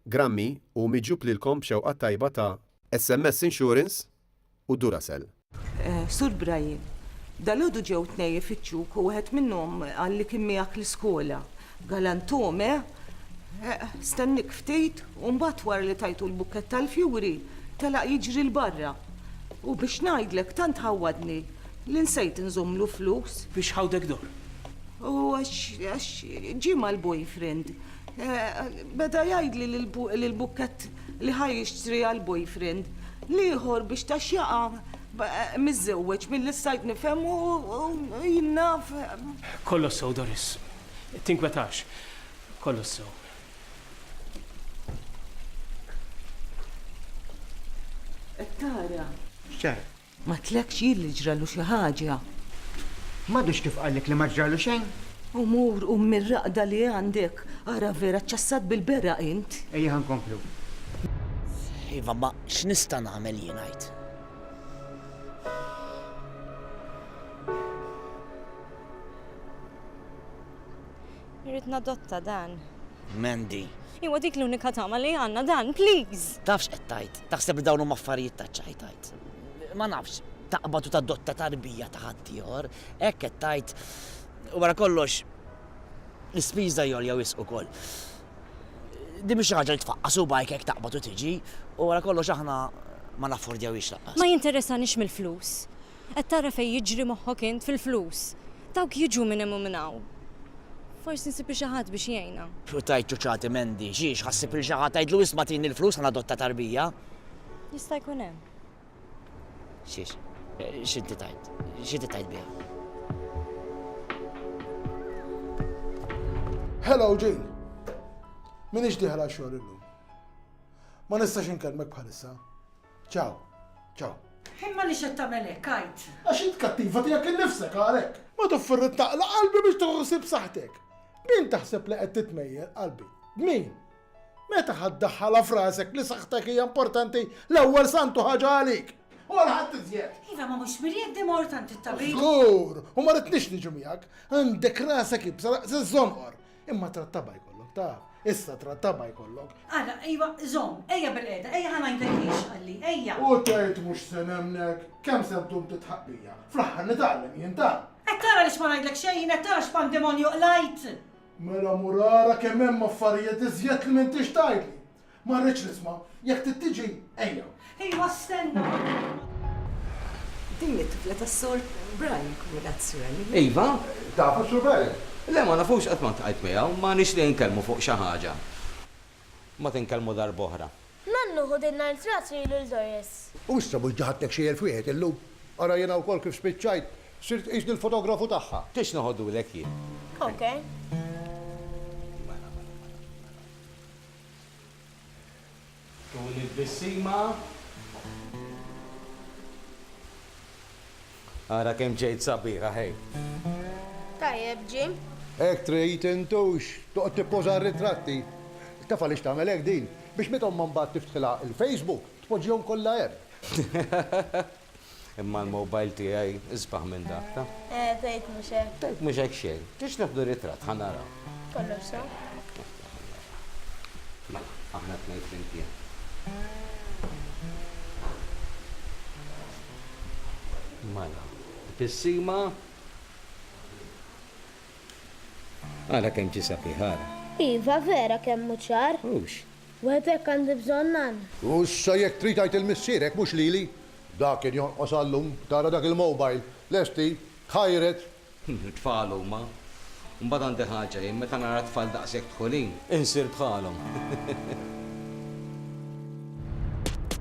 Grammy u miġjub lilkom b'xewqa t-tajba ta' SMS Insurance u Duracell. Sur Brian, dalgħodu ġew tnej ifittxuk u wieħed minnhom qal li kien miegħek l-iskola. Galantuhom, eh? Eh, stenniek ftit u mbagħad wara li tajtu l-bukkett tal-fjuri, telaq jiġri 'l barra. U biex ngħidlek tant ħawwadni li nsejt inżommlu flus. Biex ħawdek dor? U għax, għax ġie mal-boyfriend. Beda jgħidli li l-bukkett li ħa jixtri għall-boyfriend l-ieħor biex ta' xjaqa miżżewweġ milli stajt nifhem u jien naf. Kollox sew Doris. Tinkwetax. Kollox sew. Qed tara. X'ġara? Ma tlekx jien li ġralu xi ħaġa. M'għadux kif qallek li ma ġralu xejn? U mur qum mir-raqda li għandek, ara vera ċċassat bil-beraq int. Ejja ħa nkomplu. Iva, imma x'nista' nagħmel jien għid? Irrid nadotta dan. Mandy. Iwa dik l-unika tama li għandna dan, please! Taf x'qed tgħid? Taħseb li dawn huma affarijiet ta' ċajtajt? Ma nafx, taqbad u tadotta tarbija ta' ħaddieħor, hekk qed tgħid. U wara kollox, l-ispiża jolja wisq ukoll. Din mhix xi ħaġa li tfaqqas u bajk hekk taqbad u tiġi, u wara kollox aħna ma naffordjawhiex laqqas. Ma jinteressanix mill-flus. Qed tara fejn jiġri moħħok int fil-flus? Dawk jiġu minn hemm u minn hawn. Forsi nsib li xi ħadd biex jgħinha. U tgħid ċuċati Mandy, xiex, ħa ssib lil xi ħadd tgħidlu isma' tini l-flus ħa nadotta tarbija? Jista' jkun hemm. Xiex, x'inti tgħid? X'inti tgħid biha? Hello Jean. M'iniex dieħel għax-xogħol illum. Ma nistax inkellmek bħalissa. Ciao. Ciao. Imma għaliex qed tagħmel hekk, għid? Għax int kattiva tiegħek innifsek għalhekk. Ma tofferr taqla' qalbi biex tieħu ħsieb saħħtek. B'min taħseb li qed titmejjel, qalbi? B'min? Meta ħa ddaħħalha f'rasek li saħħtek hija importanti l-ewwel santu ħaġa għalik? U għal ħadd iżjed. Iva ma mhux mirjed di mort għand it-tabib. Żgur, u ma ridniex niġu miegħek. Għandek rasek ibsa naqs iż-żonqor. Imma trattaba jkollok, taf. Issa trattaba jkollok. Ara, ejwa, zom, ejja bil-qeda, ejja ħana jgħidlek għalli, ejja. U tgħid mhux se nemnek, kemm se ddum titħaqqija. Fl-aħħar nitgħallem jien ta. Qed tara li x'ma ngħidlek xejn, qed tara x'pandemonju qlajt. Mela mur ara kemm hemm affarijiet iżjed li m'intix tgħidli. Ma rridx nisma'. Jekk trid tiġi, ejja. Ejwa stenna. Din hi t-tifla tas-Sur Brian Cumulazzuelli. Iva. Tafu s-Sur Brian? Le, ma nafux, qatt ma ltqajt miegħu. Ma nixtieq inkellmu fuq xi ħaġa. Mbagħad inkellmu darb'oħra. Nannu, ħu din l-artrat lilu 'l Doris. U issa mhux ġa ħadtek xi elf wieħed illum? Ara jiena wkoll kif spiċċajt. Sirt qisni l-fotografu tagħha. Tridx noħodulek jien? Ok. Tul it-tbissima. Ara kemm ġejt sabiħa ħej! Tajjeb Jim. Hekk trid intux toqgħod tippoża r-ritratti. Taf għaliex tagħmel hekk din? Biex meta ommha mbagħad tiftħilha l-Facebook tpoġġihom kollha hemm. Imma l-mobile tiegħi isbaħ minn dak, ta? Eh, tgħid mhux hekk. Tgħid mhux hekk xejn. Tix neħdu ritratt ħa naraw. Kollox sa. Mela, aħna tnejn flimkien. Mela, tissima. Ara kemm ġi sabiħ, ara. Iva, vera kemm hu ċar. Hux, Wieħed hekk għandi bżonn għan. U issa jekk trid għid il-missierek mhux lili. Dak kien jonqos għal-lum, tara dak il-mobile, lesti, tħajred. It-tfal huma. Mbagħad għandi ħaġa jien, meta nara t-tfal daqshekk dħulin, insir bħalhom.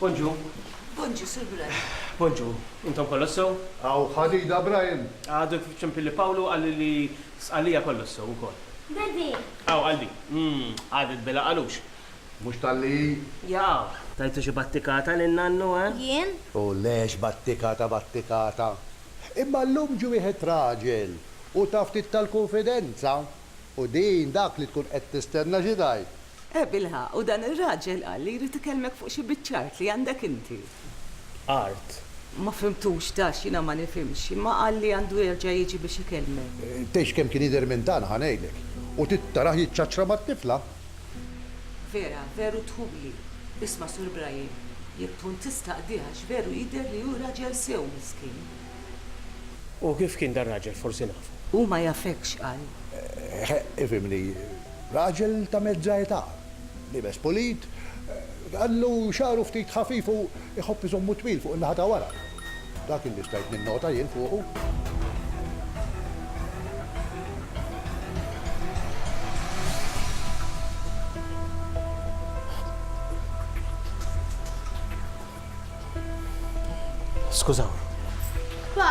Bonġu. Bonġu, Sur Brian. Bonġu. Intom kollox sew? Hawn ħadida, Brian. Għadu kif ċempilli Pawlu qalli li Sqallija kollox sew ukoll. Daddy! Hawn qalbi. Umm, qagħdet bela qalux. Mhux talli hi. Jaqaw. Tajtu xi battikata lil nannu, eh? Jien? O le, x'battikata battikata. Imma llum ġie wieħed raġel u ta ftit tal-kunfidenza. U din dak li tkun qed tistenna xi tgħid? Eh, bilħaqq, u dan ir-raġel qal li jrid ikellmek fuq xi biċċa art li għandek inti. Art? Ma fhimtux, dax, jiena ma nifhimx, imma qal li għandu jerġa' jiġi biex ikellmek. Tgħidx kemm kien jidher minn dan, ħa ngħidlek. U trid tarah jiċċaċċra mat-tifla. Vera, veru tħubli. Isma', Sur Brian, jekk tkun tista' qdih għax veru jidher li hu raġel sew, miskin. U kif kien dar-raġel, forsi nafu? Hu ma jafekx, qal. Eh, ifhimni. Raġel ta' mezza età, liebes pulit, għandu xagħru ftit ħafif u jħobb iżommu twil fuq in-naħa ta' wara. Dak illi stajt ninnota jien fuqu. Skużawni. Pa!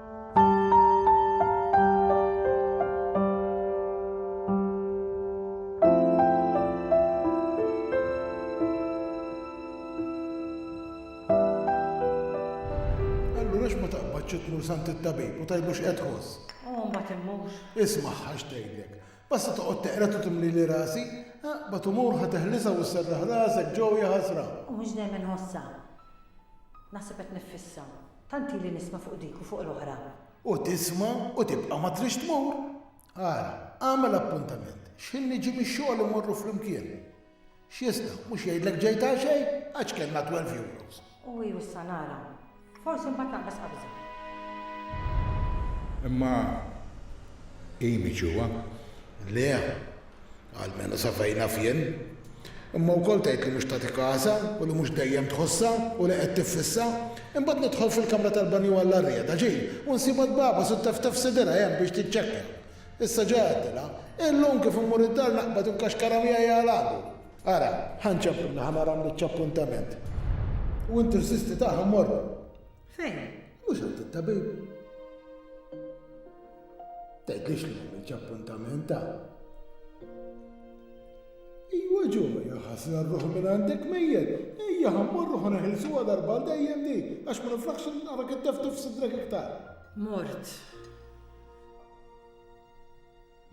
ċitlu sant it-tabib u tajbux qed ħoss. U mbagħad immux. Isma' ħax tgħidlek. Basta toqgħod teqra tu timli li rasi, ba tumur ħa teħlisa u serraħ rasek ġew jaħasra. U mhux dejjem inħossha. Naħseb qed nifissa. Tant ili nisma' fuq dik u fuq l-oħra. U tisma' u tibqa' ma tridx tmur. Ara, agħmel appuntament. X'ħin niġi mix-xogħol immorru flimkien. X'jista', mhux jgħidlek ġejt għaxej? Għax kellna twelve euros. U hi u issa nara. Forsi mbagħad naqbes qabża. Imma hi miġjugħa? Le. almenu sa fejn naf jien, imma wkoll tgħid li mhux tagħti kasha u li mhux dejjem tħossha u li qed tiffissa. Imbagħad nidħol fil-kamra tal-banju għall-arjeda, ġieli, u nsibha tbagħbas u tteftef f'sidierha hemm biex tiċċekkja. Issa ġa għaddilha. Illum kif immur id-dar naqbad inkaxkarha miegħi għal agu. Ara, ħa nċempilna ħa nara mniċċ appuntament. U inti u s-sisti tagħha mmorru. Fejn? Mhux għand it-tabib. Tgħidlix li għamilx appuntament ta' Iwa ġo, jaħasra r-ruħ minn għandek mejjed, ejja ħammur ruħ neħilsu għadar bal dejjem di, għax ma niflaħx nara kittef tifsidrek iktar. Mort.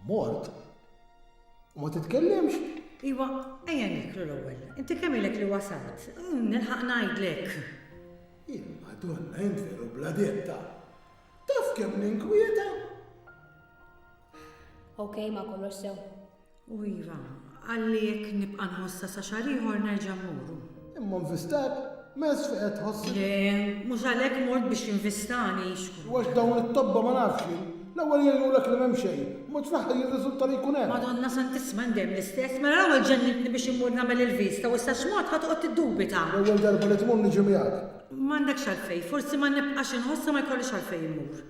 Mort? U ma titkellimx? Iwa, ejja nieklu l-ewwel. Inti kemm ilek li wasalt? Nilħaq ngħidlek. Imma donna int veru bla ditta. Taf kemm ninkwieta? Okej, ma kollox sew. U iva, Qalli jekk nibqa' nħossha sa xahar ieħor nerġa' mmuru. Imma nvistak? Mezz fi qed tħossik? Le, mhux għalhekk mort biex jinvistani, xkun. U għax dawn it-tobba ma nafx jien. L-ewwel jgħinulek li m'hemm xejn, mbagħad fl-aħħar jirriżulta li jkun hemm. Madonna Santissima jien dejjem l-istess, mela l-ewwel ġennintni biex immur nagħmel il-viżta u issa x'mod ħa toqgħod tiddubita? L-ewwel darba li tmur niġi miegħek. M'għandekx għalfejn, forsi ma nibqax inħossha ma jkollix għalfejn immur.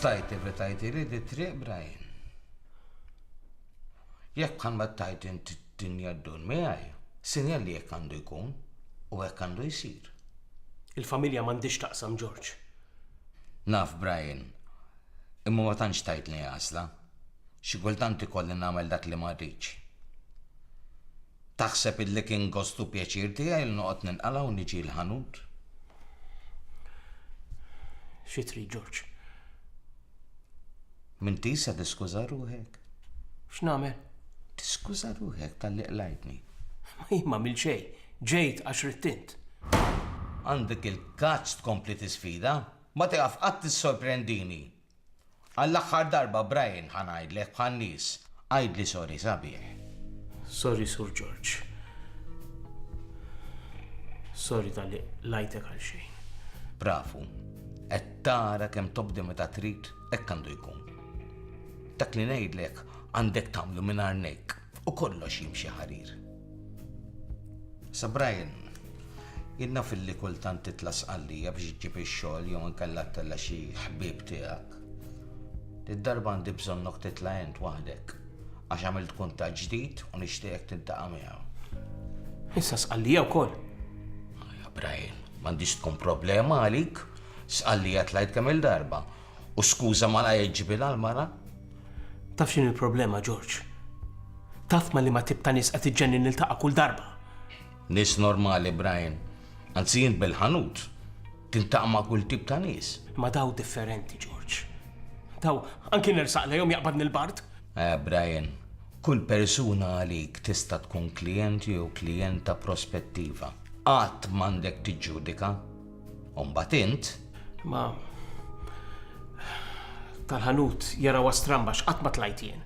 Stajt evitajtili di triq Brian. Jekk ammettajt int d-dinja ddur miegħi, sinjal li hekk għandu jkun u hekk għandu jsir. Il-familja m'għandhiex taqsam George. Naf Brian, imma ma tantx tgħidli għażla. Xi kultant ikolli nagħmel dak li ma rridx. Taħseb illi kien gost u pjaċir tiegħi li noqgħod ninqala' u niġi l-ħanut? Xi trid, Ġorġ? M'intix se tiskuża ruħek. X'nagħmel? Tiskuża ruħek tal-li qlajtni. Ma jien ma għamil xejn, ġejt għax rittint. Għandek il-kazz tkompli tisfida? Ma tieqaf qatt tissorprendini. Għall-aħħar darba, Brian, ħa ngħidlek bħan-nies, għidli sorry sabiħ. Sorry Sur George. Sorry talli qlajtek għal xejn. Bravu. Qed tara kemm tobdi meta trid, hekk għandu jkun. Dak li ngħidlek għandek tagħmlu mingħajr nejk. u kollox jimxi ħarir. Sa Brian, jien naf illi kultant titla' Sqallija biex iġġib ix-xogħol jew inkella ttella' xi ħbieb tiegħek. Id-darba għandi bżonnok titla' int waħdek għax għamilt kuntatt ġdid u nixtieqek tintaqa' miegħu. Issa sqallija wkoll. Ja Brian, m'għandix tkun problema għalik. Sqallija tlajt kemm il-darba. U skuża malajr ġibilha l-mara. Taf x'inhi l-problema, George? Taf ma' liema tip ta' nies qed iġġenni niltaqa' kull darba? Nies normali, Brian. Anzi int bil-ħanut tiltaqa' ma' kull tip ta' nies. Imma daw differenti, George. Daw anki nersaq lejhom jaqbadni l-bard. Eh, Brian, kull persuna għalik tista' tkun klijent jew klijenta prospettiva. Qatt m'għandek tiġġudika. U mbagħad int? Ma tal-ħanut jaraw stramba x'qatt ma tlajt jien.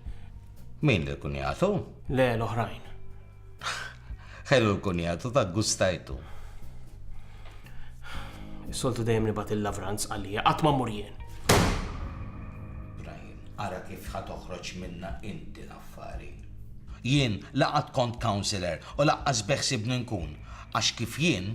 Min li kun jagħtu? Le l-oħrajn. Ħelu l-kun jagħtu ta' gustajtu. Is-soltu dejjem nibgħat il-lavranz għalija qatt ma mur jien. Brian, ara kif ħa toħroġ minna inti l-affari. Jien laqgħat kont counselor u laqqas beħsibni nkun għax kif jien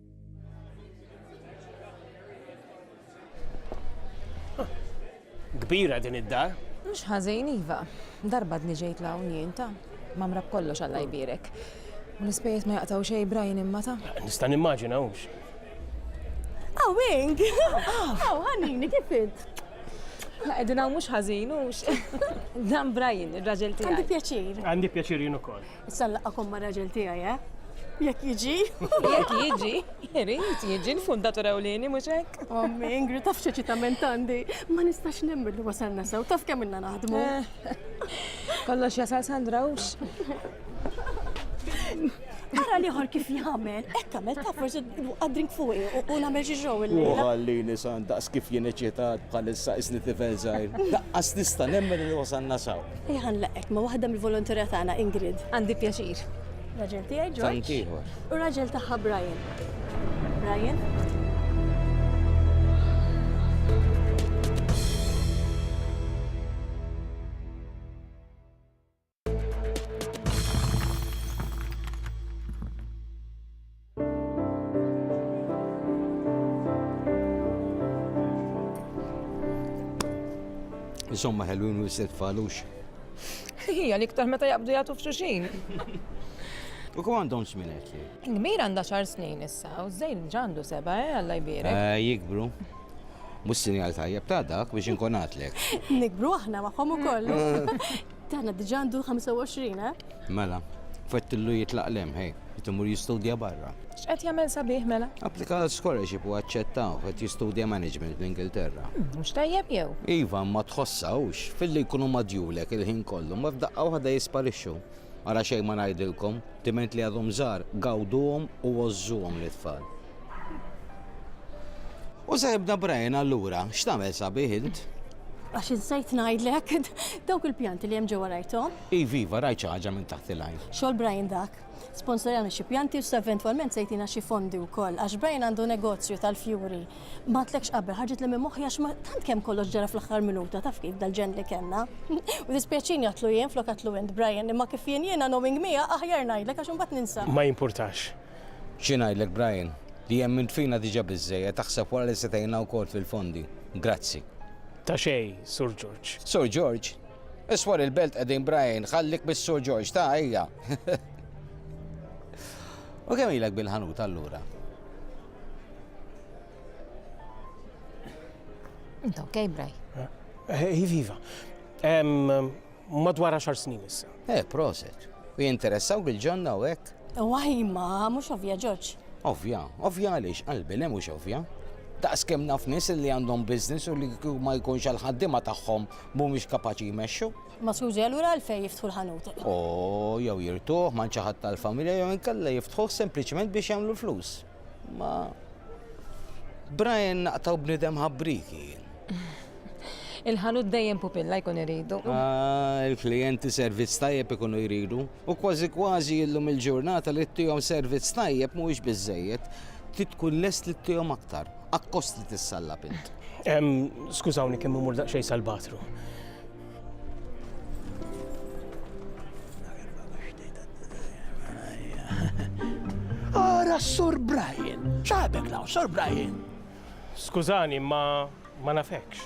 Kbira din id-dar. Mhux ħażin iva. Darba dni ġejt la unjien ta' mamra b'kollox Alla jbirek. U l-ispejjeż ma jaqtaw xejn Brian imma ta'. Nista' nimmaġina hux. Aw Ing! Aw ħanini kif int? La qegħdin hawn mhux ħażin hux. Dan Brian, ir-raġel tiegħi. Għandi pjaċir. Għandi pjaċir jien ukoll. Issa nlaqgħakom ma' raġel tiegħi, eh? Jekk jiġi. Jekk jiġi, irid jiġi l-fundatur ewlieni mhux hekk. Ommi, Ingrid taf x'eċitament għandi. Ma nistax nemmen li wasalna sew, taf kemm ilna naħdmu. Kollox jasal Sandra hux. Ara liħor kif jagħmel, hekk għamel taf forsi għad-drink fuqi u nagħmel xi xogħol illejla. U ħallini Sandra, kif jien eċitat bħalissa isni tifel żgħir. Daqqas nista' nemmen li wasalna sew. Ejja ħa nlaqqek ma' waħda mill-volonterja tagħna, Ingrid. Għandi pjaċir. Raġel tiegħi Ġorġ. Tant ieħor. U raġel tagħha Brian. Brian? Insomma, ħelwin u jisset falux. Hija l-iktar meta jaqbdu jagħtu f'xuxin. U kum għandhom żmien qed li? Kbir għandha xar snin issa, u żejn ġandu seba, eh, Alla jbierek. Eh, jikbru. Mhux sinjal tajjeb ta' dak biex inkun għatlek. Nikbru aħna magħhom ukoll. Tana diġa għandu 25, eh? Mela, fettillu jitlaq lem, hej, jitimur jistudja barra. X'qed jagħmel sabiħ mela? Applika għal scholarship u aċċettaw qed jistudja management l-Ingilterra. Hmm, mhux tajjeb jew? Iva, ma tħossawx, filli jkunu madjulek il-ħin kollu, ma f'daqqa waħda jisparixxu. Ara xejn ma ngħidilkom, timent li għadhom żgħar, gawduhom u għożżuhom l-itfal. U se jibda Brian allura, x'tagħmel sabiħ int? Għax insejt ngħidlek dawk il-pjanti li hemm ġewwa rajthom. Iva, iva, rajt xi ħaġa minn taħt il-għajn. Xogħol Brian dak. Sponsorjana xi pjanti u sa eventwalment se jtina xi fondi wkoll għax Brian għandu negozju tal-fjuri. Ma tlekx qabel ħarġet li minn moħħi għax ma tant kemm kollox ġara fl-aħħar minuta taf kif dal-ġen li kellna. U dispjaċini għatlu jien flok għatlu int Brian imma kif jien jiena knowing mija aħjar ngħidlek għax imbagħad ninsa. Ma jimpurtax. Xi ngħidlek Brian, li emmilt fina diġa biżżejjed, aħseb wara li se tgħinna wkoll fil-fondi. Grazzi. Ta' xejn, Sur George. Sur George? Iswar il-belt qegħdin Brian, ħallik mis-Sur George, ta' ejja. U kemm ilek bil-ħanut allura? Inta ok, Brian? Eh, eh, iva, iva. madwar għaxar snin issa. Eh, proset. U jinteressaw bil-ġonna u hekk? Waj, ma, mhux ovvja Ġorġ. Ovvja, ovvja għaliex qalbi le mhux ovvja. Daqs kemm naf nies li għandhom biznis u li ma jkunx għal ħaddima tagħhom mhumiex kapaċi jmexxu. Ma skużi allura għalfej jiftħu l-ħanut. O, jew jirtuh ma' xi ħadd tal-familja jew inkella jiftħuh sempliċement biex jagħmlu l-flus. Ma Brian naqtaw bnidem ħabbriki. Il-ħanut dejjem pupilla jkun iridu. Ah, il-klijenti servizz tajjeb ikunu jridu u kważi kważi illum il-ġurnata li tihom servizz tajjeb mhuwiex biżejjed. Titkun lest li tihom aktar. Akkost li tissallab int. Skużawni kemm imur daqsxejn sal-batru. Ara Sur Brian, ċabek law, Sur Brian. Skużani, ma ma nafekx.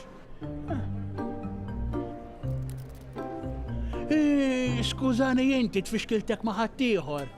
Eh, skużani jinti tfixkiltek maħattijħor.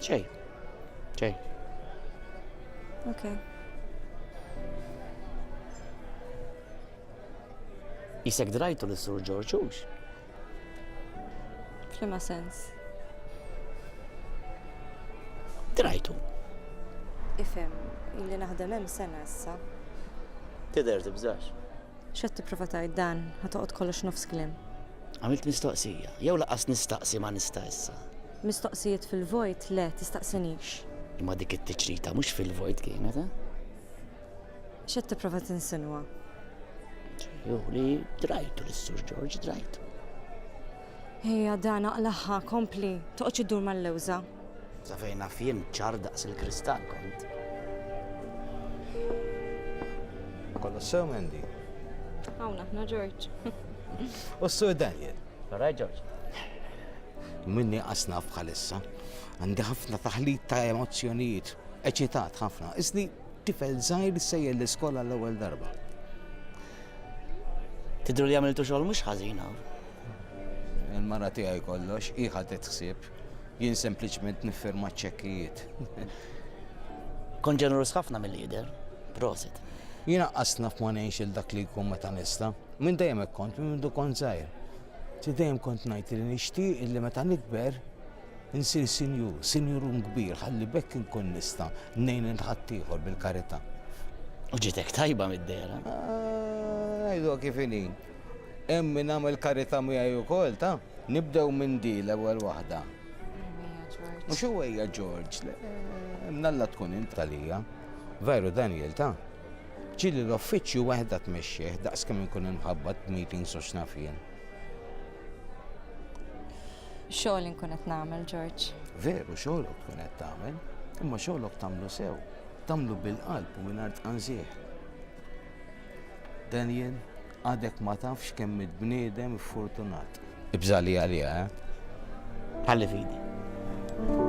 Xej. Xej. Ok. Isek drajtu li sur George Hughes. Flima sens. Drajtu. Ifem, illi naħdem hemm sena issa. Tidher tibżax. X'qed tipprova tgħid dan, ħatoqgħod kollox nofs kliem. Għamilt mistoqsija, jew laqas nistaqsi ma nista' issa. Mistoqsijiet fil-vojt, le, tistaqsinix. Imma dik it-tiċrita mhux fil-vojt kienet, eh? X'qed tipprova tinsinwa? Hu li drajtu lis-Sur George, drajtu. Hija dan aqlaħħa, kompli, toqgħodx iddur mal-lewża. Sa fejn naf jien ċar daqs il-kristall kont. Kollox sew Mandy. Hawn aħna George. U s-Sur Daniel. All right, George. Minn nieqas naf bħalissa. Għandi ħafna taħlit ta' emozzjonijiet, eċitat ħafna. Isni tifel żgħir sejjer l-iskola l-ewwel darba. Tidru li għamiltu xogħol mhux ħażina. Il-mara tiegħi kollox iħa titħsib, jien sempliċement nifferma ċekkijiet. Kon ġenerus ħafna mill-lider, prosit. Jina qasna f'ma ngħix il-dak li jkun meta nista. Minn dejjem kont, minn du kont żgħir. Ġiet dejjem kont ngħid li nixtieq illi meta nikber insir sinjur, sinjurun kbir ħalli b'hekk inkun nista' ngħin lil ħaddieħor bil-karità. U ġiet hekk tajba mid-dehra. Ngħidu ah, kif inhi. Hemm min għamel karità miegħi wkoll ta' nibdew minn di l-ewwel waħda. Mhux huwejja Ġorġ, mnalla tkun int għalija. Veru Daniel ta' Ġieli l-uffiċċju waħedha tmexxih daqs kemm inkun inħabbat b'meetings u x'naf jien. Xogħol inkun qed nagħmel, George. Veru xogħolok tkun qed tagħmel, imma xogħolok tagħmlu sew, tagħmlu bil-qalb u mingħajr tqanżieħ. Daniel, għadek ma tafx kemm il-bniedem fortunat. Ibżali għalija, eh? Ħalli fidi.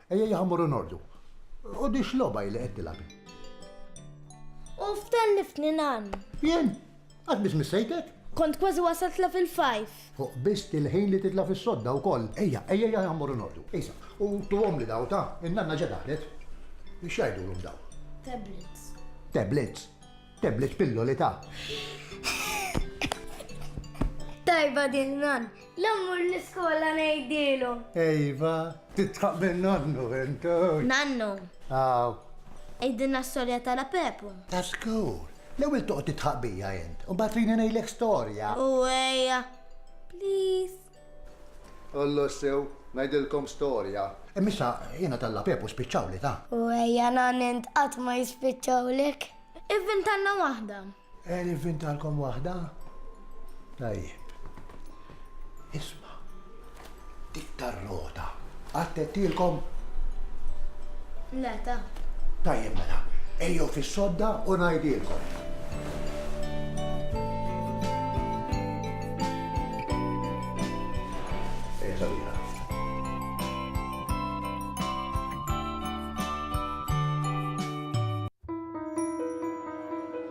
Ejjejja ħa mmorru nordu. U di x'logħba hi li qed tilgħab? U f'tellifni nan. Jien? Qatt biss missejtek? Kont kważi wasalt la fil-fajf. Fuq biss til-ħin li titla' fis-sodda wkoll. Ejja, ejjejja ħa mmorru nordu. Isa, u tuhomli daw, ta, in-nanna ġa daħlet. X'jgħidulhom daw? Tablets. Tablets? Tablets pilloli ta. Tajba din nan. La mmur l-iskola ngħidilhom. Ejva, tidħaq minn nonnu int. Nannu. Hawn. Għidilna storja ta' La Pepu. Ta' żgur. L-ewwel toqgħod tidħaq bija int, u mbagħad trini ngħidlek storja. U ejja. Please. Ollu sew, ngħidilkom storja. Imma issa jiena tal-La Pepu spiċċawli ta'. U ejja nann int qatt ma jispiċċawlek. Ivvintalna waħda. Qed nivvintalkom waħda? Tajjeb. Isma', dik tar-rota għattettilkom? Le, ta. Tajjeb mela, ejjew fis-sodda u ngħidilkom.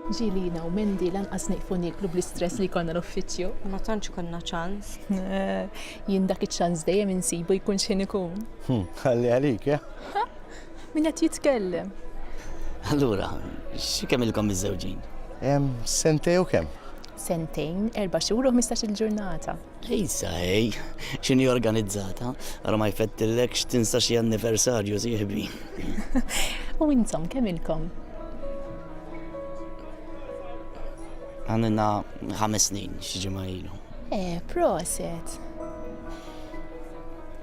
Ġilina u Mendi lanqas nieqfu nieklu bl-istress li konna l-uffiċċju. Ma tantx konna ċans. Jien dak iċ-ċans dejjem insibu jkun xejn ikun. Hm, ħalli għalik, eh? Min qed jitkellem? Allura, xi kemm ilkom miżżewġin? Sentej u kemm? Sentejn, erba' xhur u ħmistax-il ġurnata. Lejsa ej, x'inhi organizzata, ara ma jfettillekx tinsa xi anniversarju sieħbi. U intom kemm ilkom? Għamilna ħames snin xi ġimgħa ilu. Eh, proset.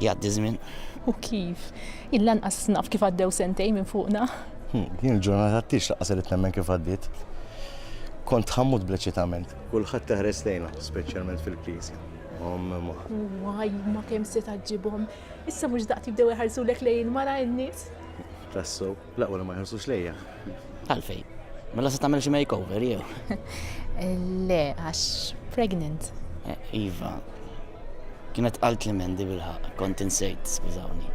Jgħaddi żmien. U kif? Il-lanqas naf kif għaddew sentej minn fuqna. Hmm, din il-ġurnata t-tix laqqas li temmen kif għaddit. Kont ħammut bleċitament. Kulħadd teħres lejna, speċjalment fil-Knisja. Waj, ma kemm se taġġibhom. Issa mhux daqt jibdew iħarsulek lejn mara n-nies. Tassu, la wara ma jħarsux lejja. Għalfej, mela se tagħmel xi makeover jew. Le, għax pregnant. Eh, iva, kienet qalt li mendi bil-ħaq, kont insejt, skużawni.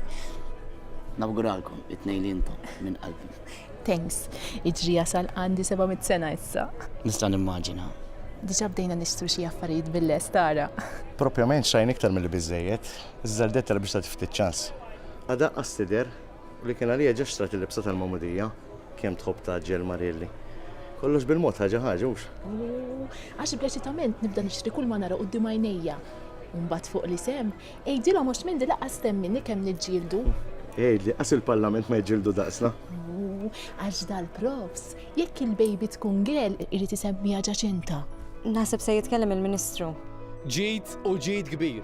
Nawguralkom, it-tnejn li intom minn qalbi. Thanks. Iġri jasal għandi seba' mitt sena issa. Nista' nimmaġina. Diġà bdejna nixtru xi affarijiet bil-lest ara. Propjament xtrajna iktar milli biżżejjed, iżda rdettha li biex tagħti ftit ċans. Adaqqas tidher li kien għaliha ġa xtrat il-libsa tal-magħmudija. Kemm tħobb tgħaġġel Marielly. Kollox bil-mod ħaġa ħaġa, hux? Għax bl-eċitament nibda nixtri kull ma nara quddiem għajnejja. U mbagħad fuq l-isem, Għidilhom għax m'għindi lanqas temmini kemm niġġieldu. Għidli, għas il-Parlament ma jġildu daqsna? Ooh, għax dal-profs, jekk il-baby tkun girl irid isemmiha Ġaċinta. Naħseb se jitkellem il-Ministru. Ġid u ġid kbir.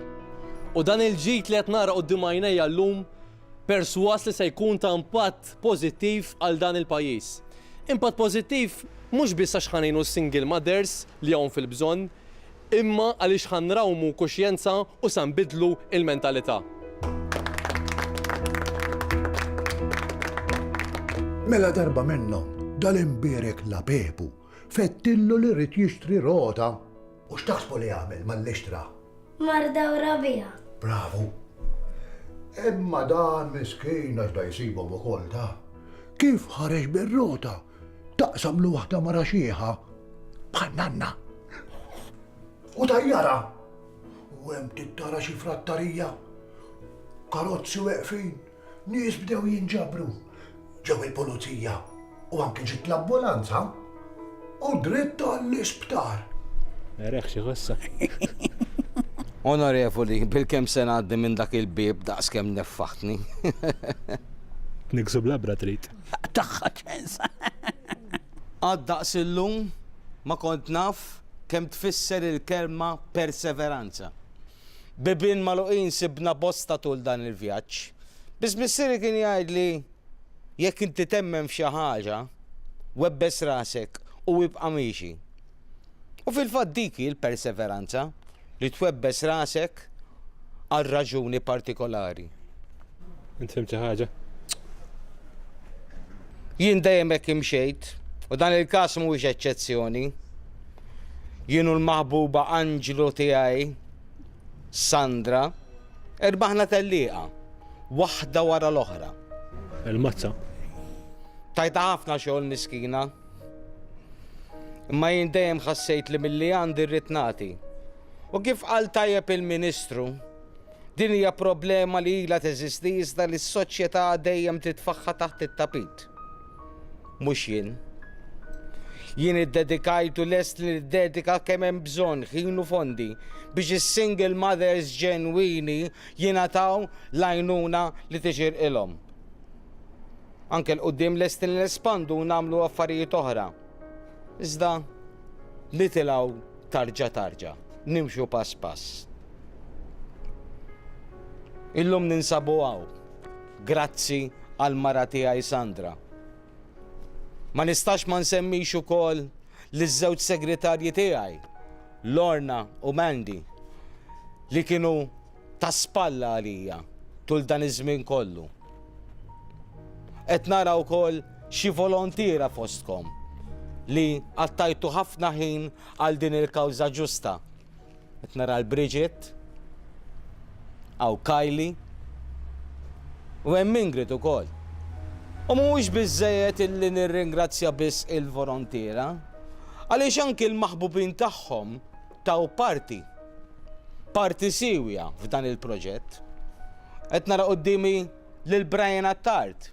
U dan il-ġid li qed nara quddiem għajnejja llum persważ li se jkun ta' impatt pożittiv għal dan il-pajjiż. Impatt pożittiv mhux biss għax ħa ngħinu s-single mothers li hawn fil-bżonn, imma għaliex ħa nrawmu kuxjenza u sa nbiddlu l-mentalità. Mela darba minnhom, dal-imbierek Lapepu fettillu li ried jixtri rota. U x'taħsbu li għamel malli xtra? Mar dawra biha. Bravu! Imma dan miskin għax da jsibhom ukoll ta! Kif ħareġ bir-rota Taqsam lil waħda mara xiħa bħal nanna. U tajjarha. U hemm tittara xi frattarija. Karozzi weqfin. Nies bdew jinġabru. Ġew il-pulizija. U anki ġiet l-ambulanza. U dritt għall-isptar. Ereħ xi ħossha. Onorevoli, bilkemm se ngħaddi minn dak il-bieb daqskemm neffaħtni. Niksu bl-għabra trid. Tagħha ċens. Qatt daqs illum ma kont naf kemm tfisser il-kelma perseveranza. Bibien magħluqin sibna bosta tul dan il-vjaġġ. Biss missieri kien jgħidli, Jekk inti temmen f'xi ħaġa, webbes rasek u ibqa' miexi. U fil-fatt dik hi l-perseveranza. li twebbes rasek għal raġuni partikolari. Int fimt xi ħaġa? Jien dejjem hekk imxejt, u dan il-każ mhuwiex eċċezzjoni. Jien u l-maħbuba anġlu tiegħi, Sandra, erbaħna tellieqa, waħda wara l-oħra. Il-mazza. Tajta ħafna xogħol miskina. Imma jien dejjem ħassejt li milli għandi rrid nagħti. U kif qal tajjeb il-Ministru, din hija problema li ilha teżisti iżda li s-soċjetà dejjem titfaħħa taħt it-tapit. Mhux jien. Jien iddedikajt u lest li niddedika kemm hemm bżonn ħin u fondi biex is-single mothers ġenwini jingħataw l-għajnuna li tixirqilhom. Anke 'l quddiem lesti li nespandu u nagħmlu affarijiet oħra. Iżda nitilgħu tarġa tarġa, nimxu pass pass. Illum ninsabu hawn, grazzi għal mara tiegħi Sandra. Ma nistax ma nsemmix ukoll liż-żewġ segretarji tiegħi, Lorna u Mandy, li kienu Ta' spalla għalija tul dan iż-żmien kollu. Qed nara wkoll xi volontiera fostkom li qattajtu ħafna ħin għal din il-kawża ġusta. Qed nara l Bridget, hawn Kylie, u hemm Ingrid ukoll. U mhuwiex biżżejjed illi nirringrazzja biss il-volontiera, għaliex anki l-maħbubin tagħhom taw parti, parti siewja f'dan il-proġett. Qed nara quddiemi lil Brian Attard,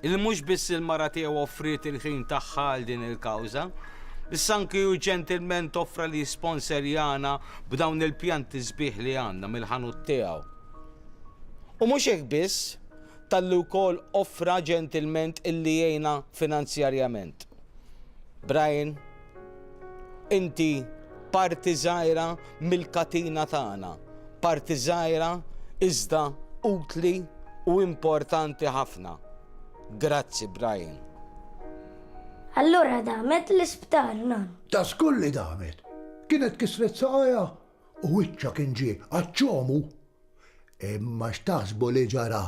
li mhux biss il-mara tiegħu offriet il-ħin tagħha għal din il-kawża, issa anki hu ġentilment offra li jisponserjana b'dawn il-pjanti sbieħ li għandna mill-ħanut tiegħu. U mhux hekk biss, talli wkoll offra ġentilment illi jgħinna finanzjarjament. Brian Inti parti żgħira mill-katina tagħna, parti żgħira iżda utli u importanti ħafna. Grazzi Brian. Allura damet l-isptar nan. Ta' żgur li damet. Kienet kisret saqajha u wiċċha kien ġie għaċ-ċomu Imma x'taħsbu li ġara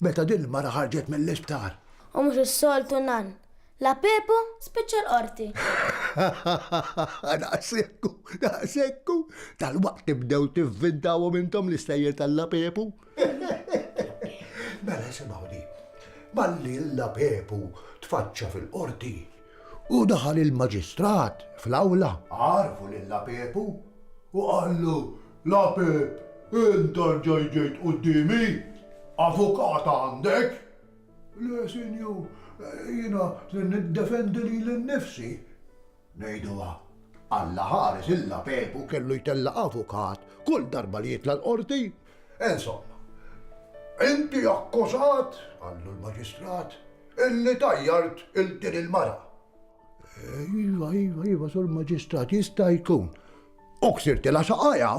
meta din il-mara ħarġet mill-isptar? U mhux is-soltu nan, la Pepu spiċċa l-Qorti. Daqshekku, daqshekku, dalwaqt tibdew tivvintawhom intom l-istejjer tal-la Pepu. Mela isimgħu din. Malli l-la Pepu tfaċċa fil-Qorti u daħal il-Maġistrat fl-awla, għarrfu lil-la Pepu u qallu, La Peep, int erġajt ġejt quddiemi? Avukat għandek? Le, sinjur, jiena se niddefendi lili nnifsi. Ngħiduha. Alla ħares il-La Peep u kellu jtella' avukat kull darba li jitla' l-Qorti. Insomma, inti akkużat, qallu l-Maġistrat, illi tajjart 'il din il-mara. Iva, iva, iva, sur maġistrat, jista' jkun. U ksirtila saqajja?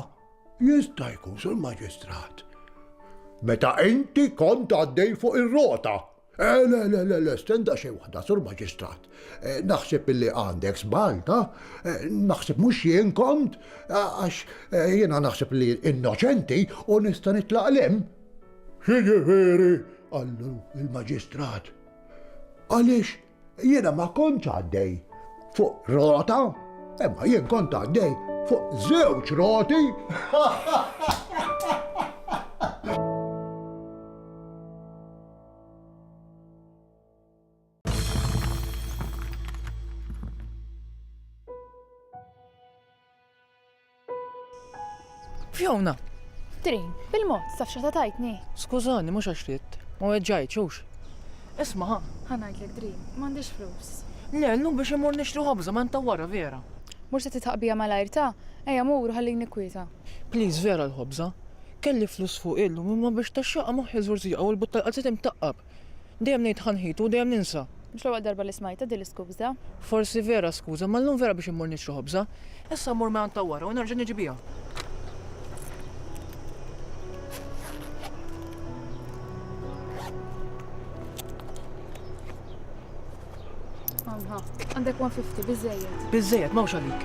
Jista' jkun, sur maġistrat. Meta inti kont għaddej fuq ir-rota. Eh, le, le, le, le, stenda xej waħda, sur maġistrat. Eh, naħseb illi għandek żball, ta? Eh, naħseb mhux jien kont, eh, għax jiena naħseb li innoċenti u nista' nitlaq lem. Xiġifieri, għallu il-maġistrat. Għaliex Jiena ma kontx għaddej fuq rota, imma jien kont għaddej fuq żewġ roti. Fiona! Trin, bil-mod, taf x'qed tgħidni? Skużani, mhux għax ridt. Ma weġġajtx, hux? Isma', ħa. Ħa ngħidlek, Trin, m'għandix flus. Le, llum biex immur nixtri ħobża ma inta wara, Vera. Mhux se titħaq bija malajr, ta? Ejja mur u ħallini kwieta. Please, Vera l-ħobża. Kelli flus fuqi llum imma biex taxxaqa moħħi żurżieqa u l-but tal-qalziet imtaqqab. Dejjem ngħid ħa nħitu u dejjem ninsa. Mhux l-ewwel darba li smajtha din l-iskuża. Forsi vera skuża, imma llum vera biex immur nixtri ħobża. Issa mmur ma' ta' wara u nerġa' niġi biha. Għandek 150, biżejjed. Biżejjed, mawx għalik.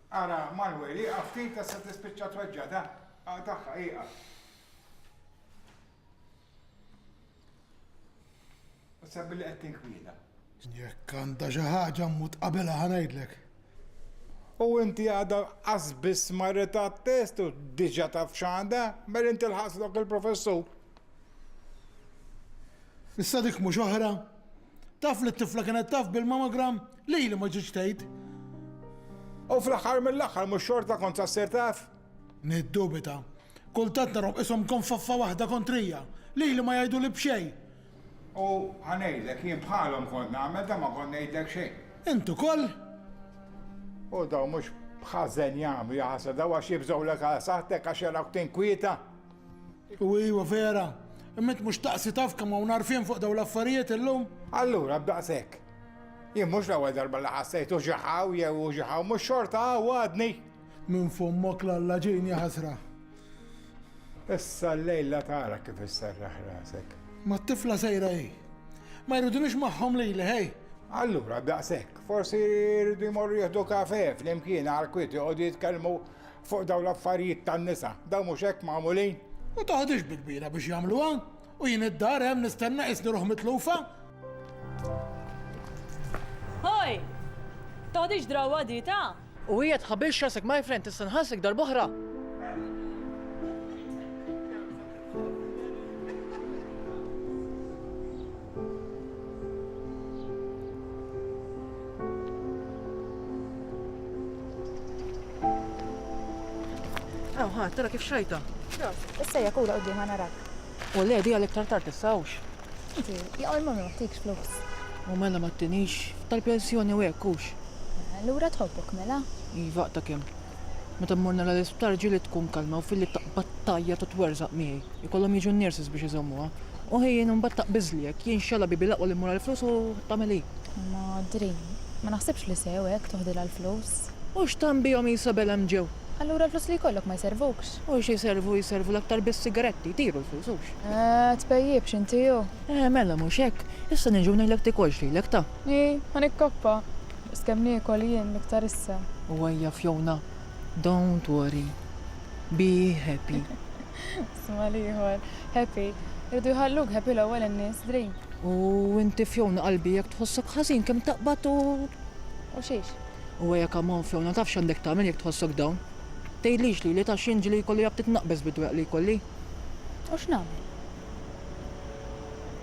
Ara Manuel, ieqaf ftit għax se tispiċċa tweġġgħet, ha? Aqtagħha, ieqaf. U sebbi li qed tinkwiela. Jekk għandha xi ħaġa mmut qabelha ħa ngħidlek. U inti għadha qas biss marret għat-test u diġà taf x'għandha, mela inti lħaqslok il-professur. Issa dik mhux oħra Taf li t-tifla kienet taf bil-mammogram? Lili ma ġietx tgħid. U fl-aħħar mill-aħħar mhux xorta kont sa ssir taf? Niddubita. Kultant narahom qishom konfoffa waħda kontrija. Lili ma jgħiduli b'xejn. U ħa ngħidlek, jien bħalhom kont nagħmel dan ma kont ngħidlek xejn. Int ukoll? U dawn mhux b'ħażen jagħmlu, jaħasra, dawn għax jibżgħulek għal saħħtek għax jarawk tinkwieta. U iwa vera, imma int mhux taqsi taf kemm hawn għarfien fuq dawn l-affarijiet illum? Allura b'daqshekk. Jien mhux l-ewwel darba li ħassejt u xi hawn jew u xi hawn, mhux xorta hawn għadni! Minn fommok l-Alla ġejn ja ħasra. Issa llejla tara kif isserraħ rasek. Mat-tifla sejra hi. Ma jridunix magħhom lili, ħej! Allura b'daqshekk, forsi jridu jmorru jieħdu kafè flimkien għall-kwiet joqogħdu jitkellmu Fuq dawn l-affarijiet tan-nisa, dawn mhux hekk magħmulin? Ma toħodhiex bi kbira biex jagħmluha, u jien id-dar hemm nistenna qisni ruħ mitlufa. Ħoj! Toħodhiex drawwa di ta'? U hija tħabilx rasek my friend tista' nħallsek darb'oħra. Aw, ħadd, tara kif xajta. Issa jekk ura qudiem narak. U le, di għalek tartar tissawx. Inti, jaqol ma ma tikx flus. U mela ma t-tinix, tal-pensjoni u hekk hux. Lura tħobbok mela? Iva, ta' kemm. Meta mmur nara l-isptar ġieli tkun kalma u filli taqbad tgħajjat u twerżaq miegħi. Ikollhom jiġu n-nurses biex iżommuha. U hi jien imbagħad taqbiżli hekk, jien x'għala bibi l-aqwa li mmur għall-flus u tagħmel hi. Madri, ma naħsibx li sew hekk toħdilha l-flus. U x'tagħmel bihom hi Sabel hemm ġew? Allura l-flus li jkollok ma jservukx? U xi jservu jservu l-aktar bis-sigaretti, jtiru l-flus hux? Ahh, tpejjipx inti hu? Eh mela mhux hekk. Issa niġi u ngħidlek tikolx lilek ta. Hi, ħa nikkoppa. Biss kemm niekol jien l-iktar issa. U ejja Fiona, don't worry, be happy. Sma' l-ieħor, Happy? Iridu jħalluk happy l-ewwel in-nies, Drink. U inti Fiona qalbi jekk tħossok ħażin kemm taqbad u. U xiex? U ejja come on Fiona, taf x'għandek tagħmel jekk tħossok down? Tgħidlix lili taf xi inġli jkollu jgħabb titnaqqbeż bid-dwejaq li jkolli? U x'nagħmel?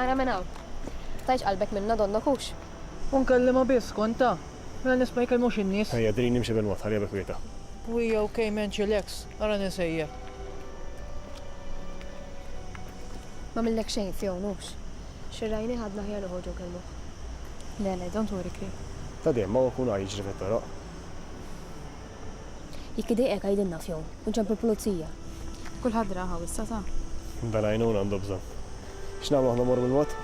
Ara minn hawn. Tajx qalbek minna donnok hux. U nkellimha biss, kont ta? Mela nisma' jkellmu xi nies. Ejja, drini nimxi bil-mod, ħalliha bi kwietha. Pwija u Cayman chillax, ara nisejjaħ. M'għamillek xejn f'hawn hux. Xirrajnih għadna aħjar noħorġu nkellmuh. Le, le, don't worry Kri. Ta' dejjem, hawn ikun għar jiġri fit-toroq. Jekk idejqek għidilna f'jum, u nċemplu l-pulizija. Kulħadd ra hawn issa, sa. Dan għajnuna għandu bżonn. X'nagħmlu aħna mmorru bil-mod?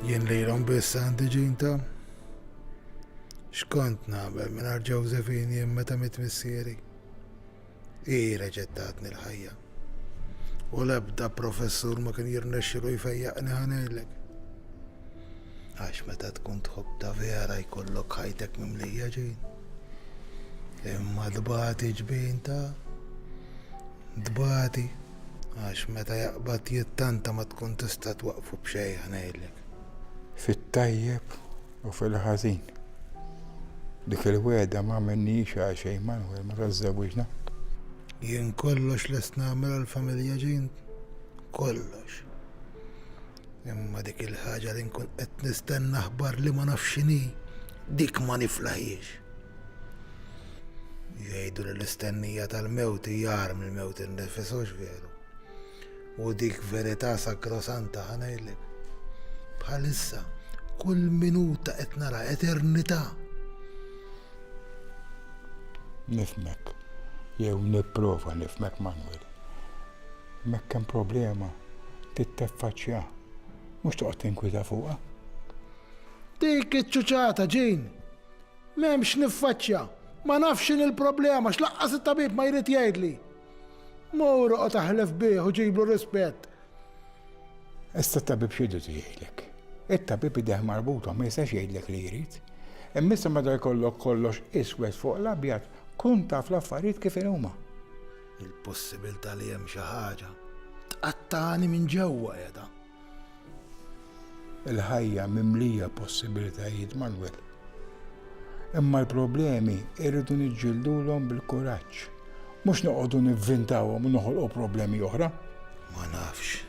Jien lilhom biss għandi ġinta. X'kont nagħmel mingħajr Ġewżefini jien meta mit missieri? Hi reġgħet tatni l-ħajja. U l-ebda professur ma kien jirnexxilu jfejjaqni ħanejlek. Għax meta tkun tħobb ta' vera jkollok ħajtek mimlija ġin. Imma dbati ġbin ta' dbati. Għax meta jaqbad jittanta ma tkun tista' twaqqfu b'xejn ħa ngħidlek. Fit-tajjeb u fil-ħażin. Dik il-wegħda m'għamilnihiex għal xejn Manwel meta żżewwiġna. Jien kollox lest nagħmel għall-familja Jean. Kollox. Imma dik il-ħaġa li nkun qed nistenna aħbar li ma nafx x'inhi, dik ma niflaħiex. Jgħidu li l-istennija tal-mewt hija għar mill-mewt innifis hux veru. U dik verità sakrosanta ħanejlek. Bħalissa, kull minuta qed nara eternità. Nifmek, jew nipprova nifmek Manuel. Mekk hemm problema trid teffaċċja mhux toqgħod tinkwieta fuqha. Dik iċ-ċuċata, Jean! M'hemm x'niffaċċja. Ma nafx x'inhi l-problema, x'lanqas it-tabib ma jrid jgħidli. Mur oqgħod aħlef bih u ġiblu rispett. Issa t-tabib x'jrid jgħidlek? It-tabib idejh marbuta ma jistax jgħidlek li jrid. Imma issa meta jkollok kollox iswed fuq l-abjad, kun taf l-affarijiet kif huma. Il-possibilità li hemm xi ħaġa tqattagħni minn ġewwa qiegħda. Il-ħajja mimlija possibilitajiet Manwel. Imma l-problemi irridu niġġildulhom bil-kuraġġ. Mhux noqogħdu nivvintawhom u noħolqu problemi oħra. Ma nafx.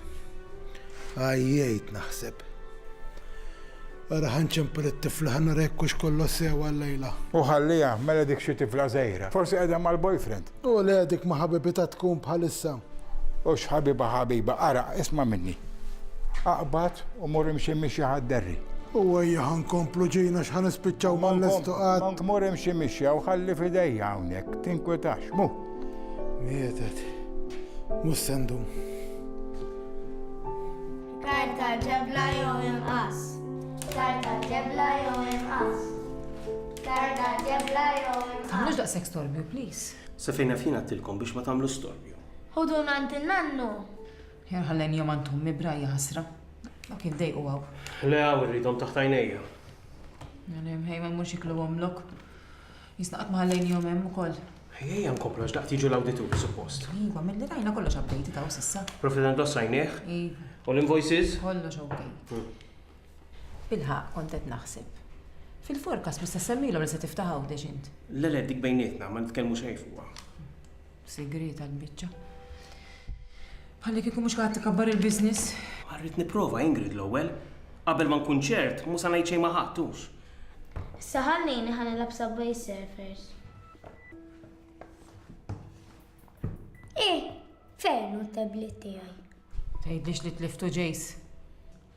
Għajjejt naħseb. Ara ħanċempel it-tifla ħanarek kux kollu sewa l-lejla. U ħalliha, mela dik xi tifla żejra. Forsi qiegħda mal-boyfriend. U le dik ma ħabibitha tkun bħalissa. Hux ħabiba ħabiba, ara, isma' minni. Aqbad u mur imxi mixja ħa d-derri. U ejja ħa nkomplu ġin għax ħa nispiċċaw ma nlestu qatt. Monk mur imxi mixja u ħalli f'idejja hawnhekk, tinkwitax, mu. Mietet. Mhux se ndum. Kajr tal-ġebla jew inqas. Kajr tal-ġebla jew inqas. Tarda ġebla jew imqar. Tagħmlux daqshekk storbju, please. Sa fejn naf jien għedtilkom biex ma tagħmlux storbju. Ħuduna għand in-nannu. Ħjar ħallejn jom għand ommi b'rajja ħasra. Dawk jindejqu hawn. Le hawn irridhom taħt għajnejja. Għalhom ħej ma mmurx iklu omlok. Jisna qatt ma ħallejn jom hemm ukoll. Ejja nkomplu għax daqt jiġu l-awdituri suppost. Iva, milli rajna kollox updated hawn s'issa. Profit and loss rajnieh? Iva. U l-invoices? Kollox okay. Bilħaqq kont qed naħseb. Fil-forecast mhux se ssemmilhom li se tiftaħ Għawdex int? Le le, dik bejnietna, ma nitkellmu xejn fuqha. Sigrieta l-biċċa. Bħallikieku mhux qiegħed tikabbar il-business. Rrid nipprova, Ingrid, l-ewwel. Qabel ma nkun ċert, mhu se ngħid xejn ma' ħadd, hux? Issa ħallini ħa nilgħab Subway Surfers. Eh, fejn hu t-tablet tiegħi? Tgħidlix li tliftu Jace.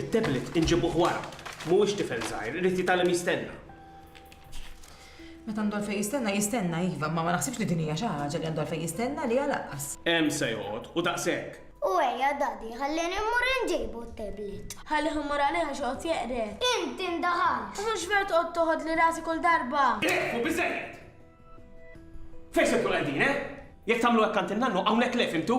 It-tablet inġibuh wara. Mhuwiex tifel żgħir, irid jitgħallem jistenna. Meta għandu għalfejn jistenna, jistenna iva, imma ma naħsibx li din hija xi ħaġa li għandu għalfejn jistenna għaliha lanqas. Hemm se joqgħod, u daqshekk. U ejja, Daddy, ħallieni mmur inġibu t-tablet. Ħallih imur għalih għax joqgħod jeqred. Inti ndaħalt! U mhux veru toqgħod toħodli rasi kull darba! Ieqfu, biżżejjed! Fejn se tkunu qegħdin, eh? Jekk tagħmlu hekk għand in-nannu, hawnhekk le, fhimtu?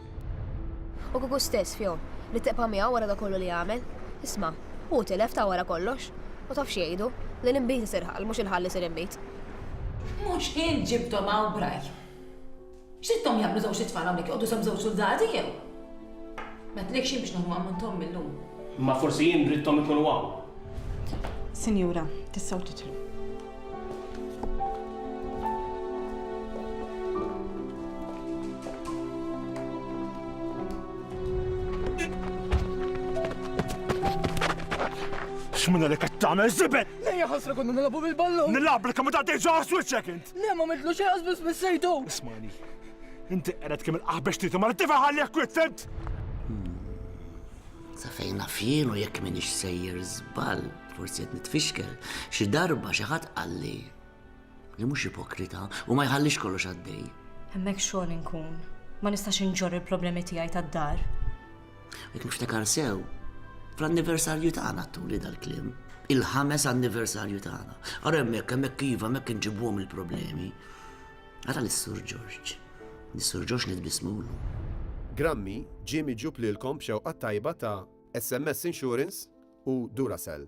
U kieku stess fihom li tibqa' miegħu wara dak kollu li għamel? Isma', hu tilef ta' wara kollox. U taf x'jgħidu, li l-inbid isir ħall, mhux il-ħall isir inbid. Mhux int ġibthom hawn b'ragħaj. X'ridthom jagħmlu żewġt itfal hawnhekk, joqogħdu sehem żewġ suldati jew? M'għedtlekx jien biex nieħu ammonthom mil-lum. Imma forsi jien ridthom ikunu hawn. Sinjura, tistgħu tidħlu. X'minna li qed tagħmel żibel? Lejja ħasra konna nilagħbu bil-ballun. Nilagħab li kemm ta' tgħidx ħas wiċċek int. Le ma midlu xejn qasbis bissejtu. Ismani. Inti qered kemm il-qaħbex trid ma tifa ħalli jekk witt fimt. Sa fejna fielu jekk minix sejjer żball. Forsi qed nitfixkel, xi darba xi ħadd qalli li mhux ipokrita u ma jħallix kollox għaddej. Hemmhekk xogħol inkun, ma nistax inġor il-problemi tiegħi tad-dar. Jekk niftakar sew, fl-anniversarju tagħna tuli dal-klim, il-ħames anniversarju tagħna. Ara hemmhekk hemmhekk iva hemmhekk inġibuhom il-problemi. Ara lis-Sur Ġorġ. Nis-Sur Ġorġ nitbismulu. Grammi, Jimmy ġub lilkom b'xewqat tajba ta' SMS Insurance u Duracell.